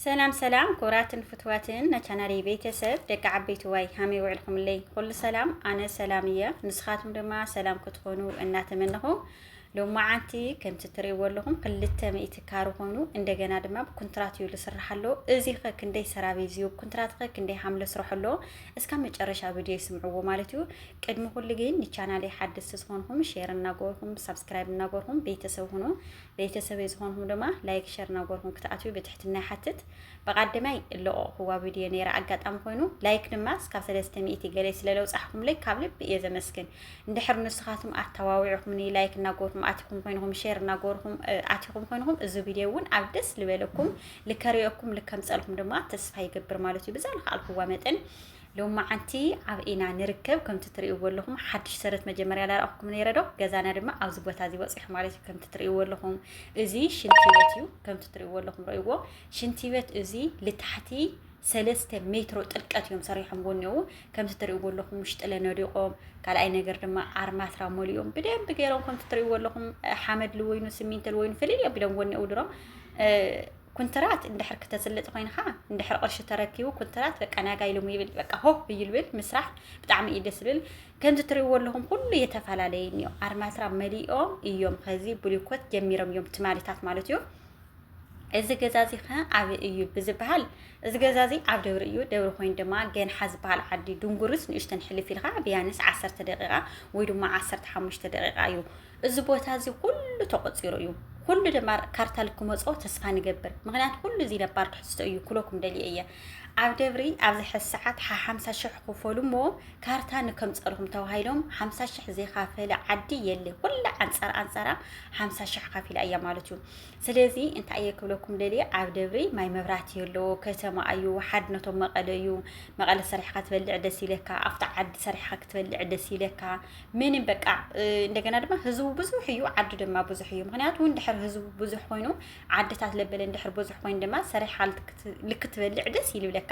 ሰላም ሰላም ክብራትን ፍትዋትን ናቻናሪ ቤተሰብ ደቂ ዓበይቲ ዋይ ሃመይ ውዕልኩምለይ ኩሉ ሰላም ኣነ ሰላም እየ ንስኻትኩም ድማ ሰላም ክትኾኑ እናተመነኹ ሎማዓንቲ ከምቲ ትርእይዎ ኣለኹም ክልተ ሚእቲ ካሩ ኮይኑ እንደገና ድማ ብኩንትራት እዩ ዝስራሕ ኣሎ እዚ ኸ ክንደይ ሰራቢ እዩ ኩንትራት ኸ ክንደይ ሓምለ ስራሕ ኣሎ እስካ መጨረሻ ቪድዮ ይስምዕዎ ማለት እዩ ቅድሚ ኩሉ ግን ንቻናለይ ሓደስቲ ዝኾንኩም ሼር እናገበርኩም ሳብስክራይብ እናገበርኩም ቤተሰብ ሁኑ ቤተሰበይ ዝኾንኩም ድማ ላይክ ሸር ናጎርኩም ክትኣትዩ ብትሕትና ይሓትት ብቃደማይ ለቆቕኩዋ ቪድዮ ነይራ ኣጋጣሚ ኮይኑ ላይክ ድማ እስካብ ሰለስተ ሚእቲ ገለ ስለለውፃሕኩምለይ ካብ ልቢ እየ ዘመስግን እንድሕር ንስኻትኩም ኣተዋዊዕኩምኒ ላይክ እናጎርኩም ኣቲኹም ኮይንኹም ሼር እናጎርኩም ኣቲኹም ኮይንኹም እዚ ቪድዮ እውን ኣብ ደስ ዝበለኩም ልከሪኦኩም ልከምፀልኩም ድማ ተስፋ ይገብር ማለት እዩ ብዛ ልክኣልኩዋ መጠን ሎማዓንቲ ኣብ ኢና ንርከብ ከምቲ ትርእይዎ ኣለኹም ሓድሽ ሰረት መጀመርያ ላረኣኹኩም ነይረ ዶ ገዛና ድማ ኣብዚ ቦታ እዚ ወፂሑ ማለት እዩ ከምቲ ትርእይዎ ኣለኹም እዚ ሽንቲ ቤት እዩ ከምቲ ትርእይዎ ኣለኹም ረእይዎ ሽንቲ ቤት እዚ ልታሕቲ ሰለስተ ሜትሮ ጥልቀት እዮም ሰሪሖምዎ እኒው ከምቲ ትርእይዎ ኣለኹም ውሽጢ ለነዲቆም ካልኣይ ነገር ድማ ኣርማትራ ሞሊኦም ብደንብ ገይሮም ከምቲ ትርእይዎ ኣለኹም ሓመድ ልወይኑ ስሚንቶ ልወይኑ ፍልይ ኣቢሎም ወኒኡ ድሮም ኩንትራት እንድሕር ክተስልጥ ኮይንካ እንድሕር ቅርሺ ተረኪቡ ኩንትራት በቃ ናጋ ኢሎም ይብል በቃ ሆ ይልብል ምስራሕ ብጣዕሚ እዩ ደስ ዝብል ከምዚ ትሪእዎ ኣለኹም ኩሉ የተፈላለየ እኒኦ ኣርማትራ መሊኦም እዮም ከዚ ብሊኮት ጀሚሮም እዮም ትማሊታት ማለት እዩ እዚ ገዛ እዚ ከ ኣብ እዩ ብዝበሃል እዚ ገዛ እዚ ኣብ ደብሪ እዩ ደብሪ ኮይኑ ድማ ገንሓ ዝበሃል ዓዲ ድንጉርስ ንእሽተን ሕልፍ ኢልካ ብያንስ ዓሰርተ ደቂቃ ወይ ድማ ዓሰርተ ሓሙሽተ ደቂቃ እዩ እዚ ቦታ እዚ ኩሉ ተቆጺሩ እዩ ኩሉ ድማ ካርታ ልክመጾ ተስፋ ንገብር ምክንያት ኩሉ እዚ ነባር ትሕዝቶ እዩ ኩለኩም ደልየ እየ ኣብ ደብሪ ኣብዚ ሕዚ ሰዓት ሓሓምሳ ሽሕ ክፈሉ እሞ ካርታ ንከምፀልኹም ተባሂሎም ሓምሳ ሽሕ ዘይካፈለ ዓዲ የለ ኩላ ኣንፃር ኣንፃራ ሓምሳ ሽሕ ካፊላ እያ ማለት እዩ ስለዚ እንታይ እየ ክብለኩም ደልየ ኣብ ደብሪ ማይ መብራት የለዎ ከተማ እዩ ሓድነቶም መቐለ እዩ መቐለ ሰሪሕካ ትበልዕ ደስ ይለካ ኣብቲ ዓዲ ሰሪሕካ ክትበልዕ ደስ ይለካ ምንም በቃ እንደገና ድማ ህዝቡ ብዙሕ እዩ ዓዱ ድማ ብዙሕ እዩ ምክንያቱ እውን ድሕር ህዝቡ ብዙሕ ኮይኑ ዓድታት ለበለ እንድሕር ብዙሕ ኮይኑ ድማ ሰሪሓ ልክትበልዕ ደስ ይልብለካ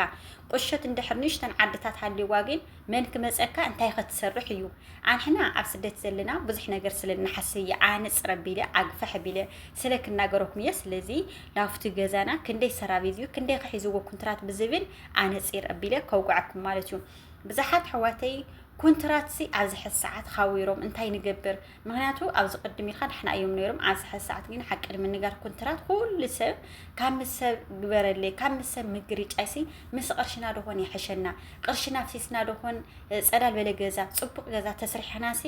ቁሸት እንድሕር ንእሽተን ዓድታት ሃልዋ ግን መን ክመፀካ እንታይ ከትሰርሕ እዩ ኣንሕና ኣብ ስደት ዘለና ብዙሕ ነገር ስለ ንሓስብ እየ ኣነፅረ ቢለ ኣግፈሐ ቢለ ስለ ክናገረኩም እየ ስለዚ ናብቲ ገዛና ክንደይ ሰራቤዝ እዩ ክንደይ ከሒዝዎ ኩንትራት ብዝብል ኣነፂር ኣቢለ ከውግዐኩም ማለት እዩ ብዝሓት ኣሕዋተይ ኩንትራትሲ ኣብዚ ሕዚ ሰዓት ኻዊሮም እንታይ ንገብር ምክንያቱ ኣብዚ ቅድም ኢልካ ዳሕና እዮም ነይሮም ኣብዚ ሕዚ ሰዓት ግን ሓቂ ንምንጋር ኩንትራት ኩሉ ሰብ ካብ ምስ ሰብ ግበረለይ ካብ ምስ ሰብ ምግርጫይሲ ምስ ቅርሽና ዶኾን ይሕሸና ቅርሽና ፍሲስና ዶኾን ፀዳል በለ ገዛ ፅቡቅ ገዛ ተስሪሕናሲ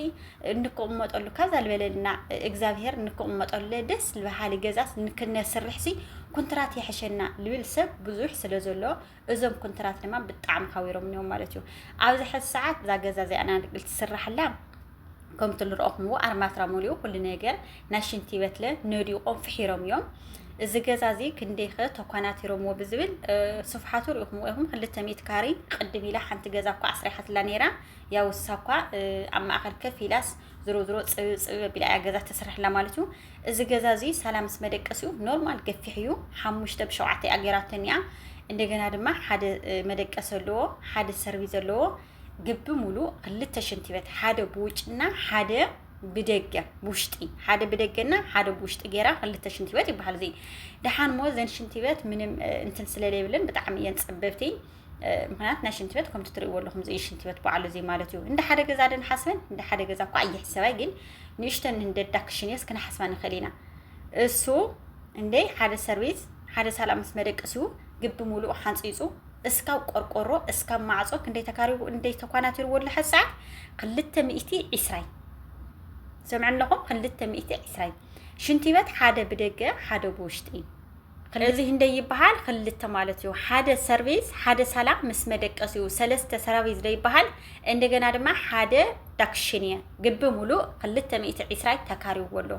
እንክቕመጠሉ ካዛ ዝበለልና እግዚኣብሄር እንክቕመጠሉ ደስ ዝበሃሊ ገዛስ ንክነስርሕሲ ኩንትራት ይሕሸና ልብል ሰብ ብዙሕ ስለ ዘሎ እዞም ኩንትራት ድማ ብጣዕሚ ሓዊሮም እዮም ማለት እዩ ኣብዚ ሕዚ ሰዓት እዛ ገዛ እዚኣ ናንቅል ትስራሕላ ከምቲ ንረእኹምዎ ኣርማትራ ሙሉኡ ኩሉ ነገር ናይ ሽንቲ ቤትለ ነዲቖም ፍሒሮም እዮም እዚ ገዛ እዚ ክንደይኸ ተኳናቲሮምዎ ብዝብል ስፍሓቱ ሪኢኹምዎ ኢኹም ክልተ ሚእቲ ካሪ ቅድም ኢላ ሓንቲ ገዛ እኳ ኣስሪሓትላ ነይራ ያው ውሳ እኳ ኣብ ማእኸል ከፍ ኢላስ ዝሮ ዝሮ ፅብብ ፅብብ ኣቢላ እያ ገዛ ተስርሕላ ማለት እዩ እዚ ገዛ እዚ ሳላ ምስ መደቀሲኡ ኖርማል ገፊሕ እዩ ሓሙሽተ ብሸውዓተ እያ ጌራተን እያ እንደገና ድማ ሓደ መደቀሲ ኣለዎ ሓደ ሰርቪስ ዘለዎ ግቢ ሙሉ ክልተ ሽንቲ ቤት ሓደ ብውጭና ሓደ ብደገ ብውሽጢ ሓደ ብደገና ሓደ ብውሽጢ ጌራ ክልተ ሽንቲ ቤት ይበሃል እዚ ደሓን ሞ ዘን ሽንቲ ቤት ምንም እንትን ስለለይብለን ብጣዕሚ እየን ፀበብቲ ምክንያት ናይ ሽንቲ ቤት ከምቲ ትርእይዎ ኣለኹም እዚ ሽንቲ ቤት በዓሉ እዚ ማለት እዩ እንደ ሓደ ገዛ ደን ሓስበን እንደ ሓደ ገዛ እኳ ኣይሕሰባይ ግን ንእሽተን እንደዳ ክሽንዮስ ክነሓስባ ንኽእል ኢና እሱ እንደ ሓደ ሰርቪስ ሓደ ሳላ ምስ መደቀሲኡ ግቢ ሙሉእ ሓንፂፁ እስካብ ቆርቆሮ እስካብ ማዕፆ ክንደይ ተካሪቡ እንደይ ተኳናቲርዎ ኣሎ ሕዚ ሰዓት ክልተ ሚእቲ ዒስራይ ሰምዕነኹም ክልተ ሚእቲ ዒስራይ ሽንቲ ቤት ሓደ ብደገ ሓደ ብውሽጢ እዩ እዚ ክንደይ ይበሃል ክልተ ማለት እዩ ሓደ ሰርቪስ ሓደ ሳላ ምስ መደቀሲኡ ሰለስተ ሰራቪስ ደይበሃል እንደገና ድማ ሓደ ዳክሽን እየ ግቢ ሙሉእ ክልተ ሚእቲ ዒስራይ ተካሪዎ ኣሎ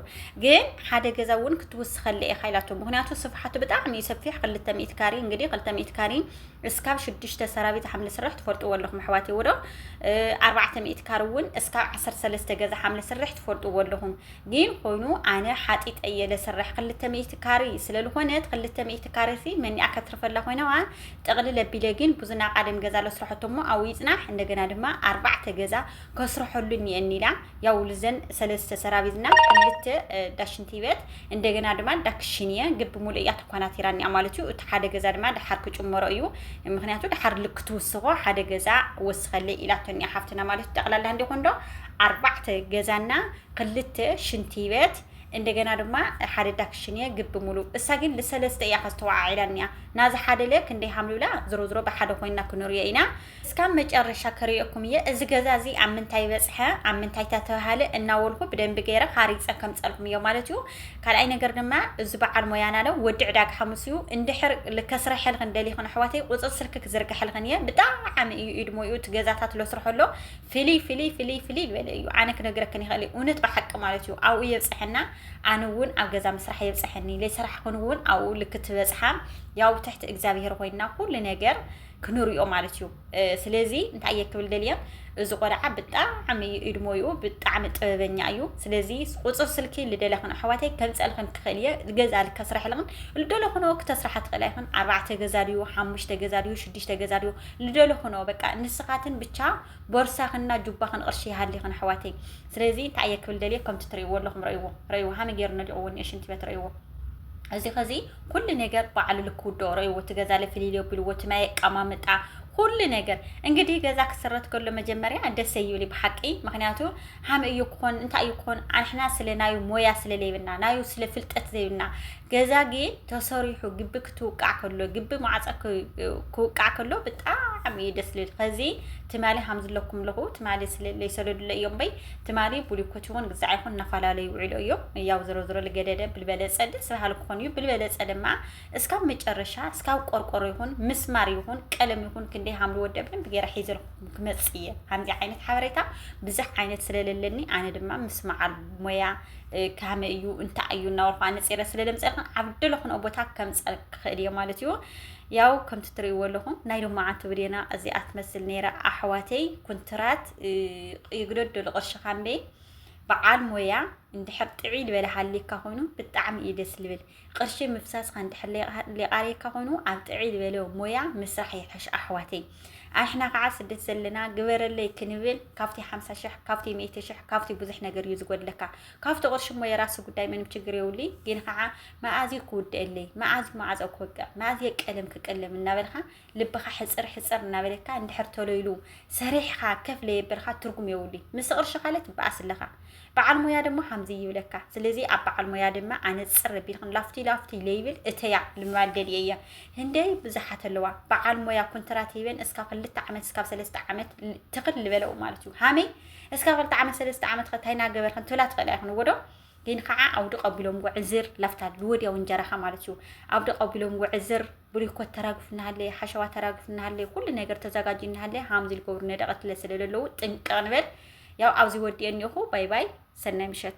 ግን ሓደ ገዛ እውን ክትውስኸለ ኢኻ ኢላቶ ምክንያቱ ስፍሓቱ ብጣዕሚ እዩ ሰፊሕ ክልተ ሚእቲ ካሪ እንግዲህ ክልተ ሚእቲ ካሪ እስካብ ሽዱሽተ ሰራቢት ሓምለ ስራሕ ትፈልጥዎ ኣለኹም ኣሕዋትይ ወዶ ኣርባዕተ ሚእቲ ካር እውን እስካብ ዓሰርተ ሰለስተ ገዛ ሓምለ ስራሕ ትፈልጥዎ ኣለኹም ግን ኮይኑ ኣነ ሓጢጠ እየ ለስርሕ ክልተ ሚእቲ ካሪ ስለልኾነት ክልተ ሚእቲ ካሪ ሲ መኒኣ ከትርፈላ ኮይናዋ ጠቕልል ኣቢለ ግን ብዙና ቃደም ገዛ ለስርሐቶ እሞ ኣው ይጽናሕ እንደገና ድማ ኣርባዕተ ገዛ ከስርሐሉ እኒኤኒ ኢላ ያው ልዘን ሰለስተ ሰራቢዝና ክልተ ዳሽንቲ ቤት እንደገና ድማ ዳክሽን እየ ግን ብምሉእ እያ ተኳናቲራ እኒኣ ማለት እዩ እቲ ሓደ ገዛ ድማ ድሓር ክጭመሮ እዩ ምክንያቱ ድሓር ልክ ትውስኾ ሓደ ገዛ ወስኸለይ ኢላቶ እኒኣ ሓፍትና ማለት እዩ ጠቕላላ እንዲኾን ዶ ኣርባዕተ ገዛና ክልተ ሽንቲ ቤት እንደገና ድማ ሓደ ዳክሽንየ ግቢ ሙሉእ እሳ ግን ልሰለስተ እያ ከዝ ተዋዓዒላ እኒኣ ናዝ ሓደለ ክንደይ ሃምልብላ ዝሮ ዝሮ ብሓደ ኮይና ክንርዮ ኢና እስካብ መጨረሻ ክርእየኩም እየ እዚ ገዛ እዚ ኣብ ምንታይ በፅሐ ኣብ ምንታይ ተተብሃለ እናወልኩ ብደንቢ ገይረ ሃሪፀ ከምፀልኩም እዮ ማለት እዩ ካልኣይ ነገር ድማ እዚ በዓል ሞያና ለ ወዲ ዕዳግ ሓሙስ እዩ እንድሕር ልከስረሐልክን ደሊክን ኣሕዋተይ ቁፅር ስልኪ ክዝርግሐልክን እየ ብጣዕሚ እዩ ኢድ ሞይኡ እቲ ገዛታት ለስርሐሎ ፍልይ ፍልይ ፍልይ ፍልይ ዝበለ እዩ ኣነ ክነግረክን ይኽእል እውነት ብሓቂ ማለት እዩ ኣብኡ የብፅሐና ኣነ እውን ኣብ ገዛ ምስራሕ የብፅሐኒ ለይሰራሕ ክን እውን ኣብኡ ልክ ትበፅሓ ያው ትሕቲ እግዚኣብሄር ኮይና ኩሉ ነገር ክንሪኦ ማለት እዩ ስለዚ እንታይ እየ ክብል ደልየ እዚ ቆልዓ ብጣዕሚ እዩ እድሞይኡ ብጣዕሚ ጥበበኛ እዩ ስለዚ ቁፅር ስልኪ ልደለኽን ኣሕዋተይ ከምፀልኽን ክኽእል እየ ገዛ ልከስረሐልኽን ልደለኽን ክተስራሓ ትኽእል ኣይኽን ኣርባዕተ ገዛ ድዩ ሓሙሽተ ገዛ ድዩ ሽዱሽተ ገዛ ድዩ ልደሎ ኹኖ በቃ ንስኻትን ብቻ ቦርሳኽን እና ጁባኽን ቕርሺ ይሃሊኽን ኣሕዋተይ ስለዚ እንታይ እየ ክብል ደልየ ከምቲ ትርእይዎ ኣለኹም ረእይዎ ረእይዎ ሃመ ገይሩ ነዲቑዎ እኒኦ ሽንቲ ቤት ረእይዎ እዚ ከዚ ኩሉ ነገር በዓሉ ልክ ውድኦ ረእይዎ እቲ ገዛ ለፍሊል ዮቢልዎ እቲ ማይ ኣቀማምጣ ኩሉ ነገር እንግዲህ ገዛ ክስረት ከሎ መጀመርያ ደሰ ይብል ብሓቂ ምክንያቱ ሃመ እዩ ክኾን እንታይ እዩ ክኾን ኣንሕና ስለ ናዩ ሞያ ስለ ለይብና ናዩ ስለ ፍልጠት ዘይብና ገዛ ግን ተሰሪሑ ግቢ ክትውቃዕ ከሎ ግቢ ማዕፀ ክውቃዕ ከሎ ብጣዕሚ እዩ ደስ ልብል ከዚ ትማሊ ሃምዝለኩም ለኹ ትማሊ ስለለይ ሰደዱለ እዮም በይ ትማሊ ቡሊኮት ይኹን ግዛዕ ይኹን እናፈላለዩ ይውዕሉ እዮም ያው ዝሮ ዝሮ ልገደደ ብልበለፀ ደስ በሃሊ ክኾኑ እዩ ብልበለፀ ድማ እስካብ መጨረሻ እስካብ ቆርቆሮ ይኹን ምስማር ይኹን ቀለም ይኹን ክንደይ ሃምሉ ወደ ብደንብ ገይረ ሒዘልኩም ክመፅእ እየ ከምዚ ዓይነት ሓበሬታ ብዙሕ ዓይነት ስለለለኒ ኣነ ድማ ምስማዓል ሞያ ካመይ እዩ እንታይ እዩ እናበልኩ ኣነፂረ ስለ ለምፀርካ ኣብ ደለኹንኦ ቦታ ከምፀር ክኽእል እየ ማለት እዩ ያው ከምቲ ትርእይዎ ኣለኹም ናይ ሎማዓንቲ ብዴና እዚኣ ትመስል ነይራ ኣሕዋተይ ኩንትራት ይግደደሉ ቅርሺ ካምበይ በዓል ሞያ እንድሕር ጥዒ ልበለ ሃሊካ ኮይኑ ብጣዕሚ እዩ ደስ ልብል ቅርሺ ምፍሳስካ እንድሕር ሊቃርየካ ኮይኑ ኣብ ጥዕይ ዝበለ ሞያ ምስራሕ ይሕሽ ኣሕዋተይ ኣሕና ከዓ ስደት ዘለና ግበረለይ ክንብል ካብቲ ሓምሳ ሽሕ ካብቲ ሚእቲ ሽሕ ካብቲ ብዙሕ ነገር እዩ ዝጎድለካ ካብቲ ቅርሺ እሞ የራሲ ጉዳይ ምንም ችግር የብሉይ ግን ከዓ መኣዝዩ ክውድአለይ መኣዝዩ ማዕፀ ክወቅዕ መኣዝየ ቀለም ክቀለም እናበልካ ልብኻ ሕጽር ሕጽር እናበለካ እንድሕር ተሎ ኢሉ ሰሪሕኻ ከፍ ለየበልካ ትርጉም የብሉ ምስ ቅርሺ ካለ ትበኣስ ኣለኻ በዓል ሞያ ድማ ከምዚ ይብለካ ስለዚ ኣብ በዓል ሞያ ድማ ኣነጽር ቢልክን ላፍቲ ላፍቲ ለይብል እተያ ልምባል ገሊኤ እያ ህንደይ ብዙሓት ኣለዋ በዓል ሞያ ኮንትራት ሂበን እስካብ ክልተ ዓመት እስካብ ሰለስተ ዓመት ትኽል ልበለው ማለት እዩ ሃመይ እስካብ ክልተ ዓመት ሰለስተ ዓመት ከታይ ናገበርክን ትብላ ትኽእል ኣይኮነ ወዶ ግን ከዓ ኣውዲ ቀቢሎም ጉዕዝር ላፍታ ወዲያው እንጀራኻ ማለት እዩ ኣውዲ ቀቢሎም ጉዕዝር ብሪኮት ተራግፍ እናሃለየ ሓሸዋ ተራግፍ እናሃለየ ኩሉ ነገር ተዘጋጅ እናሃለየ ሃምዚ ልገብሩ ነደቐትለ ስለ ዘለዉ ጥንቅቕ ንበል ያው ኣብዚ ወዲኤ እኒኹ ባይ ባይ ሰናይ ምሸት